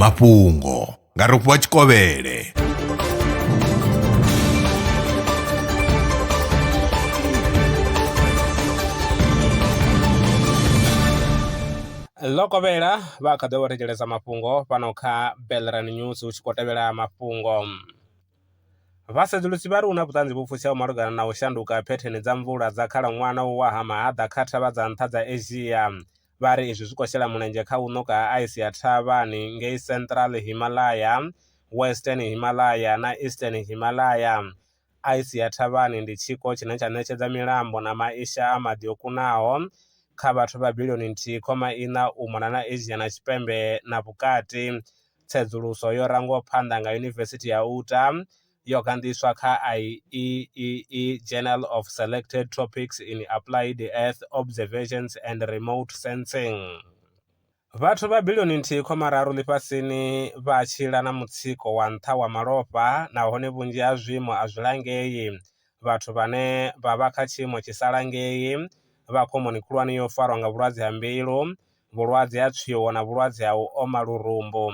mafhungo nga rofhiwa tshikovhele ḽo kovhela vha kha ḓo vha thetshelesa mafhungo fhano kha belran news hu tshi khou tevhela mafhungo vhasedzulusi vha ri hu na vhuṱanzi vhu pfutsheo malugana na u shanduka phetheni dza mvula dza khalaṅwaha na u wa ha mahaḓa kha thavha dza nṱha dza asia Vha ri izwi zwi khou shela mulenzhe kha u ṋoka ha aisi ya thavhani ngei Central Himalaya, Western Himalaya na Eastern Himalaya. Aisi ya thavhani ndi tshiko tshine tsha ṋetshedza milambo na maisha a maḓi o kunaho kha vhathu vha bilioni nthihi khoma iṋa u mona na Asia na Tshipembe na Vhukati. Tsedzuluso yo rangwaho phanḓa nga Yunivesithi ya Utah yo gandiswa kha IEEE Journal of Selected Topics in Applied Earth Observations and Remote Sensing. Vhathu vha bilioni nthihi khoma raru ḽifhasini vha tshila na mutsiko wa nṱha wa malofha nahone vhunzhi ha zwiimo a zwi langei. Vhathu vhane vha vha kha tshiimo tshi sa langei vha khomoni khulwane ya u farwa nga vhulwadze ha mbilu, vhulwadze ha tswio na vhulwadze ha u oma lurumbu.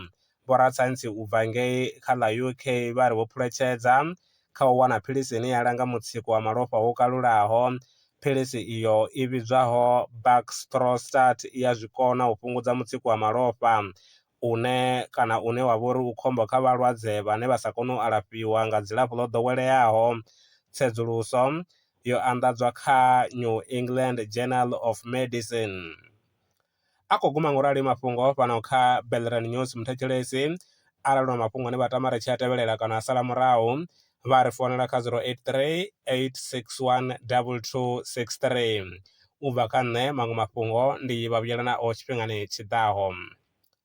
Vhorasaintsi u bva ngei kha ḽa UK vha ri vho phuletshedza kha u wana philisi ine ya langa mutsiko wa malofha wo kalulaho. Philisi iyo i vhidzwaho Baxdrostat i a zwi kona u fhungudza mutsiko wa malofha une kana une wa vha uri u khombo kha vhalwadze vhane vha sa koni u alafhiwa nga dzilafho ḽo ḓoweleaho. Tsedzuluso yo anḓadzwa kha New England Journal of Medicine. A khou guma ngorali mafhungo a fhano kha Belrand News Muthetshelesi arali na mafhungo ane vha tama ri tshi a tevhelela kana a sala murahu vha ri founela kha 083 861 2263. U bva kha nṋe maṅwe mafhungo ndi vha vhuyela nao tshifhingani tshi ḓaho.